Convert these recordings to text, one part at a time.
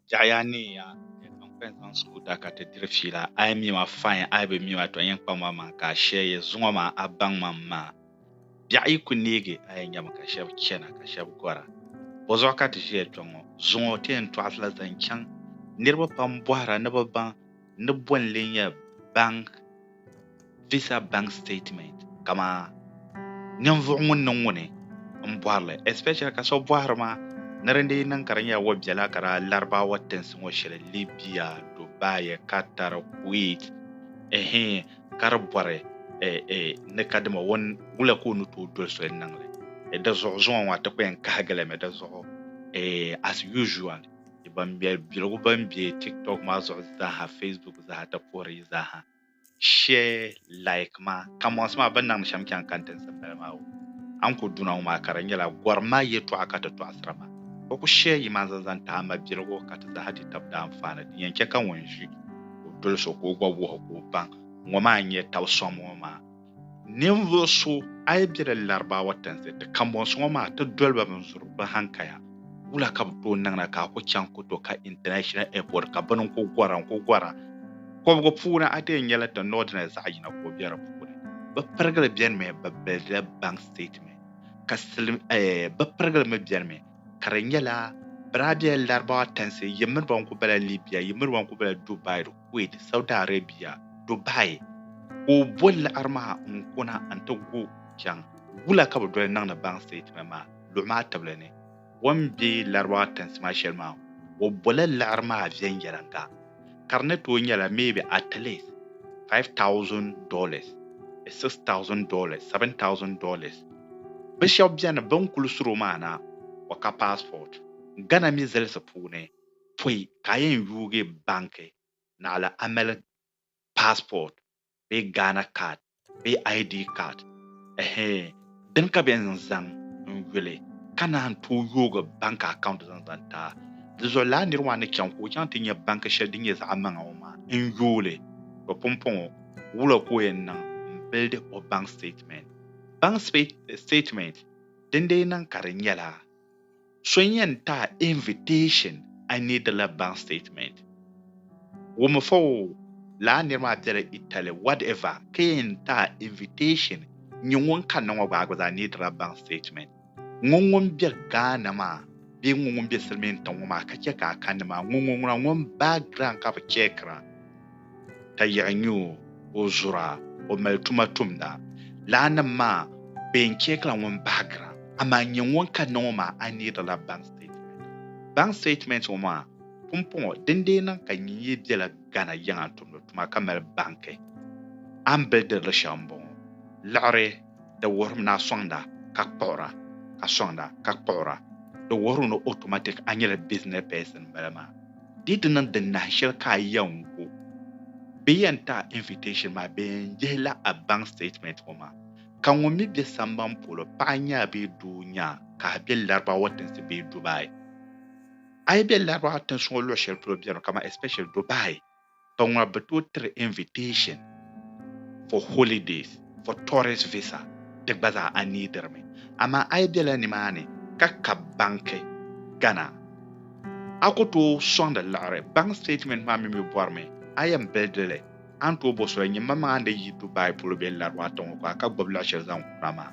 Jaɣaya ni ya zaŋ pɛn zaŋ su o da ka ti diri fiila. A yi mi ma fain, a yi bi mi ma tɔ n-yɛn kpam a maŋa ka a shɛ ya zuŋɔ maa a baŋ ma m-maa. Biɛɣu yi ku neegi a yɛn nyami ka shɛb chana ka shɛb gɔra. Bɔzuɣu ka ti ʒiya kpe ŋɔ. Zuŋɔ ti yɛn tɔɣisila zaŋ chaŋ. Niriba pam bɔhira ni bɛ baŋ ni bolli nyɛ bank visa bank statement kama ninvuɣu ŋun niŋ ŋuni n bɔrili especially ka so bɔhiri ma ni di dii niŋ ka di nyɛla o bela ka daa laribaawa tinsi ŋɔ shɛli libya dubai qatar kuwait ehe ka di bɔri ni ka dima o wula ka o ni tooi doli soli niŋli di zuɣu zuŋɔ ŋɔ a ti kpɛn kahigilimi di zuɣu as usual ni ban mɛri biligu ban be TikTok maa zuɣu zaaha, Facebook zaaha ti puhiri yi zaaha. Share, like ma. Kamosi maa bɛ ni niŋdi shɛm chaŋ kani tinsi m-bala maa o. A ni ku duna ŋɔ maa ka di nyɛla gɔrim ma yɛtɔɣa ka ti tɔɣisiri ma. O ku share yi maa zaŋ zaŋ tahi ma biligu ka ti zaaha di tab daa anfaani. Din yɛn chɛ ka ŋun ʒi o doli so ka o gba wuhi o ka o baŋ ŋɔ maa n-nyɛ taba sɔŋ ŋɔ maa. Ninvuɣ so, a yi bela Larabawa tinsi, ti kambɔnsi ŋɔ maa, ti doli ba binzuri bɛ hankaya. Wula ka bɛ tooi niŋ na ka a ku chaŋ ku to ka International Airport ka bini n-ku gɔra n-ku gɔra? Kɔbigu puuni a deei nyɛla ti Northerners zaɣ yina ka o be di puuni. Bɛ pirigili bɛnimi bɛ bilidila bank statement, ka silim eh, bɛ pirigili mi bɛnimi ka di nyɛla bɛ daa bela Larabawa tinsi, yi miri ba n-ku bela Libya, yi miri ba n-ku bela Dubai. Kuwait, Saudi Arabia Dubai ka o bo laɣiri maa n kuna n ti gu chaŋ wula ka bi doli niŋdi baŋ statement maa luɣi maa tibili ni o ni be Larabawa tiŋsima shɛli maa o bola laɣiri maa viɛnyɛliŋga ka di ni tooi nyɛla maybe at least five thousand dollars bee six thousand dollars seven thousand dollars bi shɛba beni bini kuli suri o maa na o ka passport Ghana mi zilisi puuni pɔi ka a yɛn yuugi banki naɣila Amelin passport bee Ghana card bee ID card ɛhee dini ka bɛ yɛn zaŋ n yuli ka naan tooi yoogi banki account zaŋ zaŋ ti a. Di zuɣu lala niri maa ni chaŋ ka o chaŋ ti nya banki shɛli din nyɛ zaɣimaŋa ŋɔ maa n yooli to pumpɔŋɔ wula ka o yɛn niŋ n bildi o bank statement. Bank statement din dii niŋ ka di nyɛla. So yɛn ti a invitation a ni di la bank statement. Wum fa o, lala niri maa bela Italy whatever ka yɛn ti a invitation nyɛ ŋun kani na ŋɔ gba a gba zaa ni di la bank statement. Ŋɔ ŋun be Ghana maa bee ŋɔ ŋun be silimiintiŋ ŋɔ maa ka che ka a kani maa ŋɔ ŋɔ ŋuna ŋun background ka bi checkira. ka yiɣi nyu o zura o mali tuma tumda. Laanim maa bee n-chɛ ka ŋun bahigira amaa nyɛ ŋun ka ni ŋɔ maa a neerila bank statement. Bank statement ŋɔ maa pumpɔŋɔ din dee niŋ ka nyin yi bela Ghana yiŋa n-tumdi tuma ka mali banki a ni bili dirili shɛli m-bɔŋɔ, liɣiri di wuhirim ni a sɔŋda ka kpuɣira ka sɔŋda ka kpuɣira di wuhiri ni automatic a nyɛla business person m-bala maa. Di ti niŋ di nahi shɛli ka a yɛn gu bee yɛn ti a invitation maa, bɛ yɛn yihi la a bank statement ŋɔ maa. Ka ŋun mi be samban polo, paɣa nyaa bee doo nyaa, ka a be Larabawa tinsi bee Dubai. A yi be Larabawa tinsi ŋɔ luɣ shɛli polo bɛri mi, kamani especially Dubai, ka ŋɔ bɛ tooi tiri invitation for holidays, for tourist visa, di gba zaa a neediri mi. Amaa a yi bela nimaani ka ka banki Ghana, a ku tooi sɔŋdi liɣiri bank statement maa mi mi bɔri mi a yɛn bildi li, a ni tooi bɔ so la nyimamaŋa n di yi Dubai polo bee Larwa tiŋɔ ka ka gbubi liɣi shɛli zaŋ kura maa,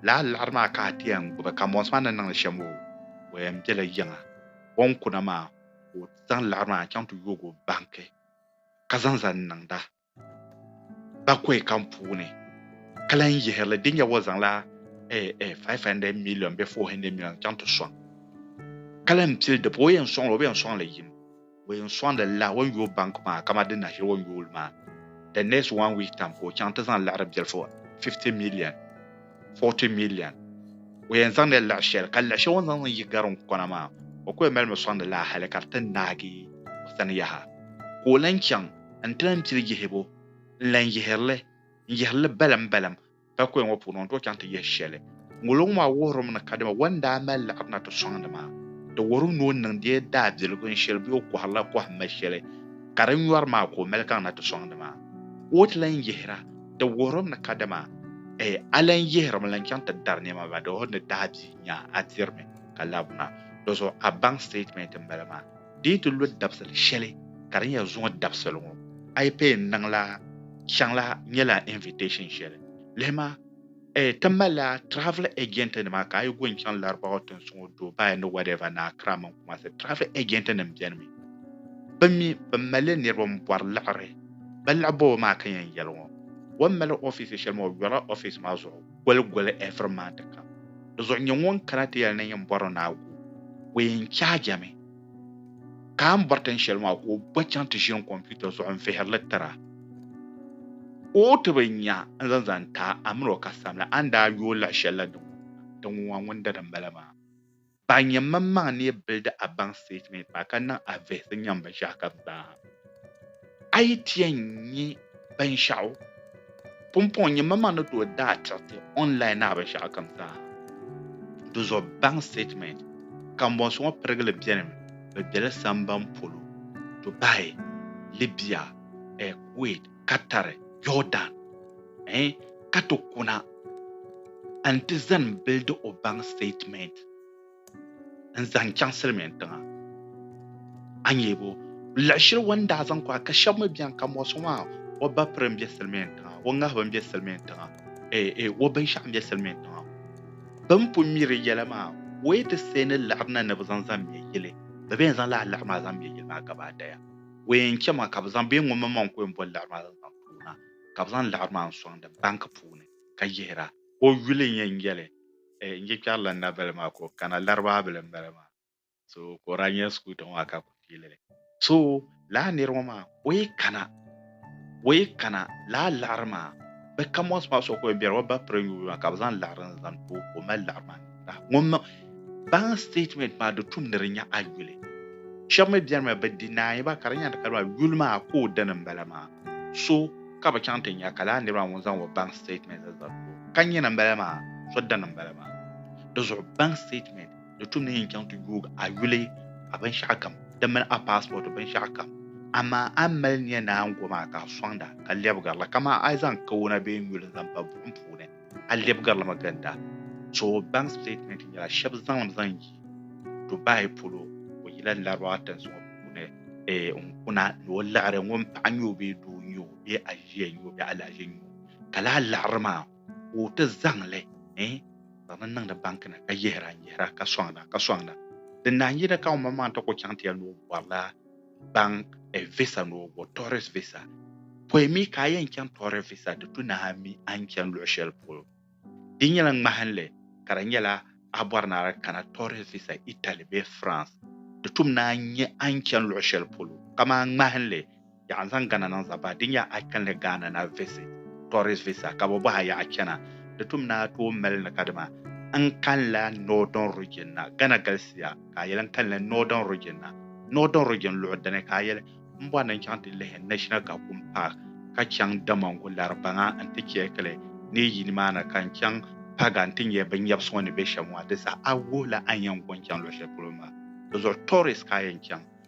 lala liɣiri maa ka a ti yɛn gbubi, kambɔnsi maa ni niŋdi shɛm o yɛn bela yiŋa, bɔnkuna maa ka o zaŋ laɣiri maa chaŋ ti yoog o banki ka zaŋ zani niŋda bakɔi kam puuni ka lan yihiri li din yɛb o zaŋla eh, eh, 500 million bee 400 million chaŋ ti sɔŋ ka lan pili di pa o yɛn sɔŋ li o bi yɛn sɔŋ li yim o yɛn sɔŋdi la o ni yooi banki maa kama di nashili o ni yooi li maa the next one week time ka o chaŋ ti zaŋ laɣiri biɛlifu 50 million 40 million o yɛn zaŋdila liɣi shɛli ka liɣi shɛli o ni zaŋ niŋ yi gariŋkona maa o kuli malimi sɔŋdi laa hali ka di ti naagi o sani yaha ka o lan chaŋ n-ti lan pili yihibu n-lan yihiri li n-yihiri li balimbaliŋ paikoya ŋɔ puuni o ni tooi chaŋ ti yihi shɛli ŋolo ŋɔ maa wuhirimi ni kadama o ni daa mali liɣiri na ti sɔŋdi maa di wuhirimi ni o niŋdila daabiligu n-shiri bee o kɔhirila kɔhimma shɛli ka di nyɔri maa ka o mali kaŋ na ti sɔŋdi maa ka o ti lan yihira Di wuhirim ni kadama a lan yihirimi lan chaŋ ti dari nɛma ba di o ni daa di nya a dirimi ka labina. Dɔzuɣu a baŋ statement m-bala maa. Di yi ti lo dabisili shɛli ka di nya zuŋɔ dabisili ŋɔ, a yi pay n-niŋ la chaŋ la nyɛla invitation shɛli. Lihima. Eh, ti malila travel agent nima ka a yi go n chaŋ Larabawa tinsuŋo Dubai ni whatever ni Accra mini Kumasi travel agent nim beni mi bɛ mi bɛ malila niriba n bɔri liɣiri bɛ liɣi bɔbu maa ka yɛn yɛli ŋɔ o ni mali office shɛli maa o yɔrila office maa zuɣu goli goli every month kam di zuɣu nyɛ ŋun kana ti yɛli ni yɛn bɔri ni a go o yɛn charge mi ka a ni bɔri tin shɛli maa ka o gba chaŋ ti ʒini kɔmputa zuɣu n-vihiri li tira ka o ti bi nya n-zaŋ zaŋ ti a, a min o ka samli, a ni daa yooi lahi shɛli la din ŋun ŋɔ ŋun dali m-bala maa. Ban nyɛ maŋmaŋ ni yi bilidi a baŋ sitɛtimɛnti maa ka niŋ a vihisi nyaŋ binshɛɣu kam zaa. A yi ti yɛn nya binshɛɣu pumpɔŋɔ nyɛ, mama ni tooi daa tiriti online naa binshɛɣu kam zaa. Di zuɣu bank statement kambɔnsi ŋɔ pirigili beni mi bɛ beli samban polo, Dubai, Libya, Kuwait, Qatar, Jordan, eh, ka ti kuna n-ti zani bildi o bank statement. n zaŋ chaŋ silimiin tiŋa a nyebo laɣishiri wan daa zaŋ kɔra ka shɛba mi bɛni ka mɔɣisi ŋɔ maa o ba piri n bɛ silimiin tiŋa o ŋahiba n bɛ silimiin tiŋa ee ee o binshɛɣu n bɛ silimiin tiŋa bin pun mi di yɛla maa o yi ti see ni liɣiri na ni bi zaŋ zaŋ mɛ yili bɛ bɛn zaŋ lala liɣiri maa zaŋ mɛ yili maa gaba daya o yɛn chɛ ma ka bɛ zaŋ bee ŋun mi maŋ ka o yɛn boli liɣiri maa zaŋ zaŋ tuuna ka bɛ zaŋ liɣiri maa n sɔŋdi banki puuni ka yihira o yuli n yɛn yɛli eh n je kpɛri la n nabali maa ka o kana Laribaa bili m bala maa so ka o daa nyɛ school tiŋ maa ka kuli fiili li so laa niri ŋɔ maa o yi kana o yi kana laa laɣiri maa bɛ kamɔnsi maa so ka o yɛn bɛri o ba piri nyubu maa ka bɛ zaŋ laɣiri n zaŋ ti o ka o mali laɣiri maa niŋda ŋun mi bank statement maa di tum ni di nya a yuli shɛba mi bɛni mi bɛ deny ba ka di nya di ka di maa yuli maa ka o dini m bala maa. so ka bɛ chaŋ ti nya ka lala niriba ŋun zaŋ o bank statement la zali tooni. Ka nyina m-bala maa, so dini m-bala maa. Di zuɣu bank statement ni tum ni yin chaŋ ti yoog a yuli, a binshɛɣu kam, di mini a passport binshɛɣu kam. Amaa a ni mali nya naango maa ka a sɔŋda ka lɛbigiri li kaman a yi zaŋ kawana bee nyuli n-zaŋ pa buɣim puuni. A lɛbigirili mi ginda, Toobaŋ statement nyɛla shɛba zaŋlim zaŋ yi Dubai polo, o yila Larabawa tinsuŋɔ puuni n-kuna ni o liɣiri ŋun paɣa nyɛ o bee doo nyɛ o bee aʒia nyɛ o bee alahaʒi nyɛ o, ka lala liɣiri maa ka o ti zaŋ li zaŋdi niŋdi banki ni ka yihira n-yihira ka sɔŋda ka sɔŋda. Di naanyi ni ka ŋumbɔŋɔ maa ni ti kul chaŋ ti ya ni o bɔrila baŋ e visa ni o bo tourist visa. Pɔi mi ka a yɛn chaŋ tourist visa di tu nahi mi a ni chani luɣi shɛli polo. Di nyɛla ŋmahinli ka di nyɛla a bɔri ni a daa kana tourist visa Italy bee France di tum ni a nya a ni chani luɣi shɛli polo. Kamani ŋmahinli, yaɣa n-zaŋ Ghana niŋ Zambah di nya a kanli Ghana ni a visit tourist visa ka bɛ bɔhi a yaɣa chana di tum ni a tooi mali ni kadama n kanila northern region na. Ghana galisiya. ka a yɛli n kalinli Northern Region na. Northern Region luɣu dini ka a yɛli m bɔri ni n chaŋ ti lihi National Kakum Park ka chaŋ Damongo Laribaŋa nti chɛɛkili ni yi yi nimaani ka n chaŋ Paga nti nyɛ bɛ nyɛbisi ŋɔ ni be shɛm maa. Di saha a wuhi la a ni yɛn go n-chaŋ luɣ shɛli polo maa. Di zuɣu tourist ka a yɛn chaŋ.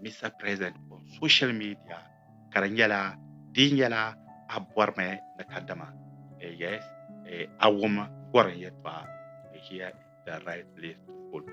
Mister President on social media ka di nyɛla di nyɛla a bɔrimi ni kadama yes a wum gɔrin yɛtɔɣa here is the right place to follow.